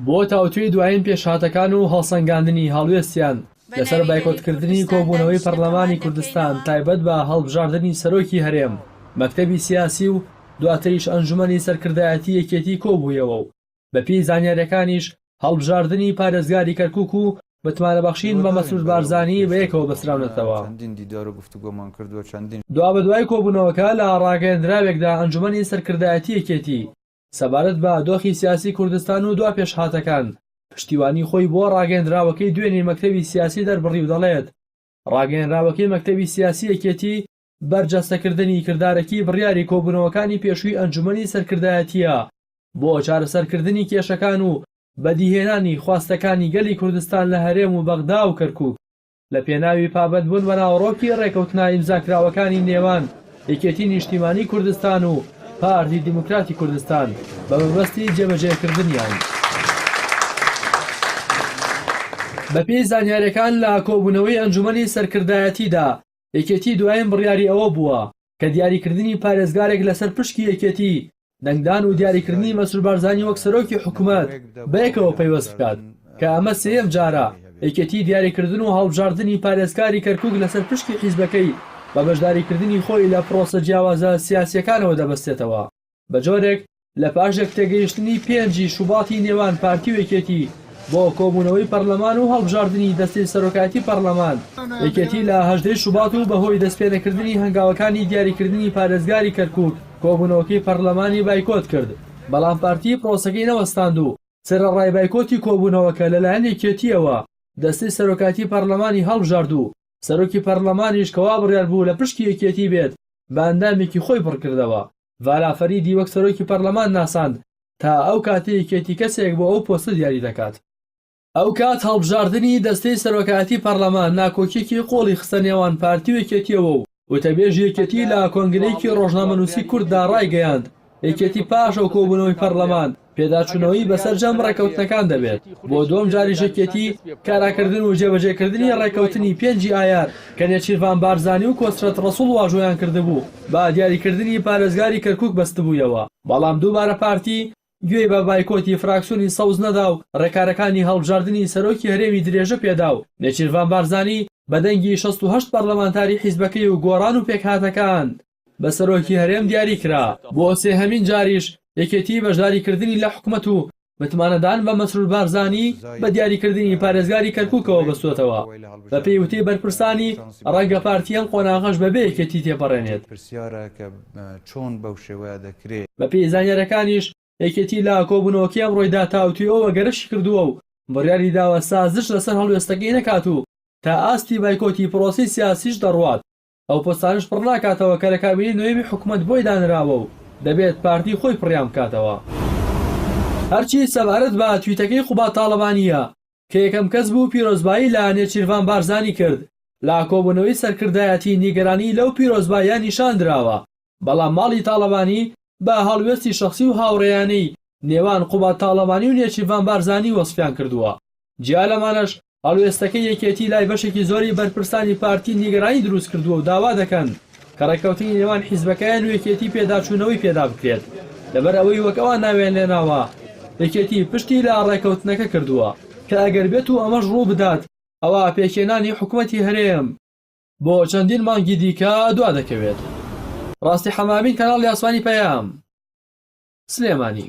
بۆ تاوتوێی دوایین پێشهاتەکان و هەڵسەنگاندنی هەڵوێستیان لەسەر بایکۆتکردنی کۆبوونەوەی پەرلەمانی کوردستان تایبەت بە هەڵبژاردنی سەرۆکی هەرێم، مەکتەبی سیاسی و دواتریش ئەنجومەنی سەرکردایەتی یەکێتی کۆبوویەوە و بەپێی زانیارییەکانیش هەڵبژاردنی پارێزگاری کەرکوک و متمانەبەخشین بە مەسرور بارزانی بەیەکەوە بەستراونەتەوە. دوابەدوای کۆبوونەوەکە لە ڕاگەیەندراوێکدا ئەنجومەنی سەرکردایەتی یەکێتی سەبارەت بە دۆخی سیاسی کوردستان و دوا پێشهاتەکان، پشتیوانی خۆی بۆ ڕاگەیەندراوەکەی دوێنێی مەکتەبی سیاسی دەربڕی و دەڵێت، ڕاگەیەنراوەکەی مەکتەبی سیاسی یەکێتی بەرجەستەکردنی کردارەکی بڕیاری کۆبوونەوەکانی پێشووی ئەنجومەنی سەرکردایەتییە بۆ چارەسەرکردنی کێشەکان و بەدیهێنانی خواستەکانی گەلی کوردستان لە هەرێم و بەغدا و کەرکووک. لە پێناوی پابەندبوون بە ناوەڕۆکی ڕێکەوتنە ئیمزاکراوەکانی نێوان یەکێتی نیشتیمانی کوردستان و پارتی دیموکراتی کوردستان بە مەبەستی جێبەجێکردنیان. بەپێی زانیارییەکان لە کۆبوونەوەی ئەنجوومەنی سەرکردایەتیدا، یەکێتی دوایین بڕیاری ئەوە بووە، کە دیاریکردنی پارێزگارێک لەسەر پشکی یەکێتی، دەنگدان و دیاریکردنی مەسرور بارزانی وەک سەرۆکی حکومەت بەیەکەوە پەیوەست بکات، کە ئەمە سێیەم جارە یەکێتی دیاریکردن و هەڵبژاردنی پارێزکاری کەرکوک لەسەر پشکی حیزبەکەی بە بەشداریکردنی خۆی لە پرۆسە جیاوازە سیاسییەکانەوە دەبەستێتەوە. بە جۆرێک لە پاش یەکتێگەیشتنی پێنجی شوباتی نێوان پارتی و یەکێتی بۆ کۆبوونەوەی پەرلەمان و هەڵبژاردنی دەستەی سەرۆکایەتی پەرلەمان، یەکێتی لە هەژدەی شوبات و بە هۆی دەستپێنەکردنی هەنگاوەکانی دیاریکردنی پارێزگاری کەرکووک کۆبوونەوەکەی پەرلەمانی بایکۆت کرد، بەڵام پارتی پرۆسەکەی نەوەستاند و سەرەڕای بایکۆتی کۆبوونەوەکە لەلایەن یەکێتییەوە دەستەی سەرۆکایەتی پەرلەمانی هەڵبژارد و سەرۆکی پەرلەمانیش کە وابڕیار بوو لە پشکی یەکێتی بێت، بە ئەندامێکی خۆی پڕکردەوە. ڤالا فەریدی وەک سەرۆکی پەرلەمان ناساند، تا ئەو کاتەی یەکێتی کەسێک بۆ ئەو پۆستە دیاری دەکات. ئەو کات هەڵبژاردنی دەستەی سەرۆکایەتی پەرلەمان ناکۆکییەکی قوڵی خستە نێوان پارتی و یەکێتییەوە و وتەبێژی یەکێتی لە کۆنگرەیەکی ڕۆژنامەنووسی کورددا ڕایگەیاند، یەکێتی پاش ئەو کۆبوونەوەی پەڕلەمان پێداچوونەوەی بەسەرجەم ڕێکەوتنەکان دەبێت، بۆ دووەم جاریش یەکێتی کاراکردن و جێبەجێکردنی ڕێکەوتنی پێنج ی ئایار کە نێچیرڤان بارزانی و کۆسرەت ڕەسوڵ واژۆیان کردبوو بە دیاریکردنی پارێزگاری کەرکوک بەستبوویەوە، بەڵام دووبارە پارتی گوێی بە بایکۆتی فراکسیۆنی سەوز نەدا و ڕێکارەکانی هەڵبژاردنی سەرۆکی هەرێمی درێژە پێدا و نێچیرڤان بارزانی بە دەنگی شەست و هەشت پەڕلەمانتاری حیزبەکەی و گۆڕان و پێکهاتەکان بە سەرۆکی هەرێم دیاری کرا، بۆ سێهەمین جاریش یەکێتی بەشداری کردنی لە حکومەت و متمانەدان بە مەسرور بارزانی بە دیاری کردنی پارێزگاری کەرکوکەوە بەستۆتەوە، بە پێی وتەی بەرپرسانی ڕەنگە پارتی ئەم قۆناغەش بە بێ یەکێتی تێپەڕێنێت. بە پێی زانیاریەکانیش یەکێتی لە کۆبونەوەکەی ئەمڕۆی دا تاوتوێوەوە گەرەشی کردووە و بڕیاری داوە سازش لەسەر هەڵوێستەکەی نەکات و تا ئاستی بایکۆتی پرۆسەی سیاسیش دەڕوات، ئەو پۆستانەش پڕ ناکاتەوە کە لە کابینەی نۆیەمی حکومەت بۆی دانراوە و دەبێت پارتی خۆی پڕیان بکاتەوە. هەرچی سەبارەت بە تویتەکەی قوباد تاڵەبانییە کە یەکەم کەس بوو پیرۆزبایی لە نێچیرڤان بارزانی کرد لە کۆبوونەوەی سەرکردایەتی نیگەرانیی لەو پیرۆزباییە نیشان دراوە بەڵام ماڵی تاڵەبانی بە هەڵوێستی شەخسی و هاوڕێیانەی نێوان قوباد تاڵەبانی و نێچیرڤان بارزانی وەسفیان کردووە. جیا لەمانەش هەڵوێستەکەی یەکێتی لای بەشێکی زۆری بەرپرسانی پارتی نیگەرانی دروست کردووە و داوا دەکەن کە ڕێککەوتنی نێوان حیزبەکەیان و یەکێتی پێداچوونەوەی پێدا بکرێت لەبەر ئەوەی وەک ئەوان ناویان لێناوە یەکێتی پشتی لە ڕێککەوتنەکە کردووە کە ئەگەر بێتوو ئەمەش ڕووبدات ئەوا پێکهێنانی حکومەتی هەرێم بۆ چەندین مانگی دیکە دوا دەکەوێت. ڕاستی حەمامین کەناڵی ئاسمانی پەیام سلێمانی.